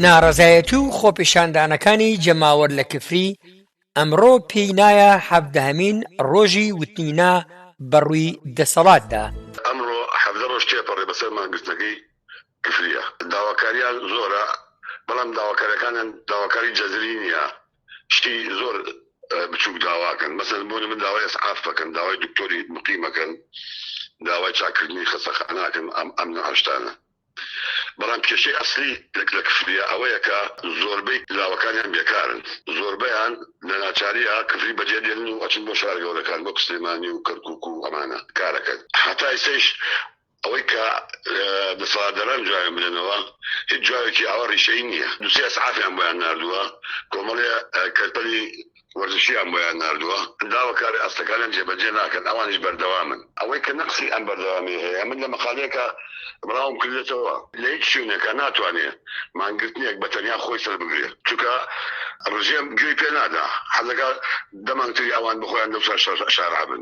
ناڕەزایەتی و خۆپیشاندانەکانی جەماوەر لە کفری، ئەمڕۆ پێی نایە حەڤدەهەمین ڕۆژی وتنی نا بە ڕووی دەسەڵاتدا. ئەمڕۆ حەڤدە ڕۆژ تێپەڕی بەسەر مانگرتنەکەی کفرییە. داواکاریان زۆرە، بەڵام داواکارییەکانیان داواکاری جەزری نییە، شتی زۆر بچووک داواکەن، مەسەلەن بۆ نموونە داوای ئیسعاف ئەکەن، داوای دکتۆری موقیم ئەکەن، داوای چاککردنی خەستەخانە ئەکەن، ئەم نەعشتانە. بەڵام کێشەی ئەسلی لە کفریە ئەوەیە کە زۆربەی لاوەکانیان بێکارن، زۆربەیان لە ناچاریە کفری بەجێ دێنن و ئەچن بۆ شارە گەورەکان وەک سلێمانی و کەرکوک و ئەمانە کارەکەن، هەتا ئیستەیش ئەوەی کە دەسەڵاتداران جوابیان بدەنەوە هیچ جوابێکی ئاوا ریشەیی نیە، دوسێ ئیسعافیان بۆیان ناردوە کۆمەڵێ کەرپەلی وەرزشییان بۆیان ناردووە، داواکاری ئاستەکانیان جێبەجێ ناکەن، ئەوانیش بەردەوامن. ئەوەی کە نەقسی ئەم بەردەوامییە هەیە، من لە مەقالەیەکا بڵاوم کردووەتەوە، لە هیچ شوێنێکا ناتوانێ مانگرتنێک بە تەنیا خۆی سەربگرێ، چونکە ڕژێم گوێی پێ نادا، حەز دەکا دە مانگتری ئەوان بە خۆیان لەو سەر شارعە بن.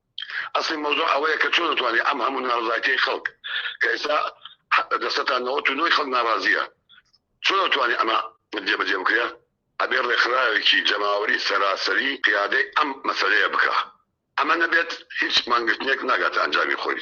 ئەسڵی مەوزوع ئەوەیە کە چۆن دەتوانێت ئەم هەموو ناڕەزایەتیەی خەڵک کە ئێستا دە سەتا نەوەت و نۆی خەڵک ناڕازییە چۆن دەتوانێت ئەمە جێبەجێ بکرێ ئەبێ ڕێکخراوێکی جەماوەری سەراسەری قیادەی ئەم مەسەلەیە بکا ئەمە نەبێت هیچ مانگرتنێک ناگاتە ئەنجامی خۆی.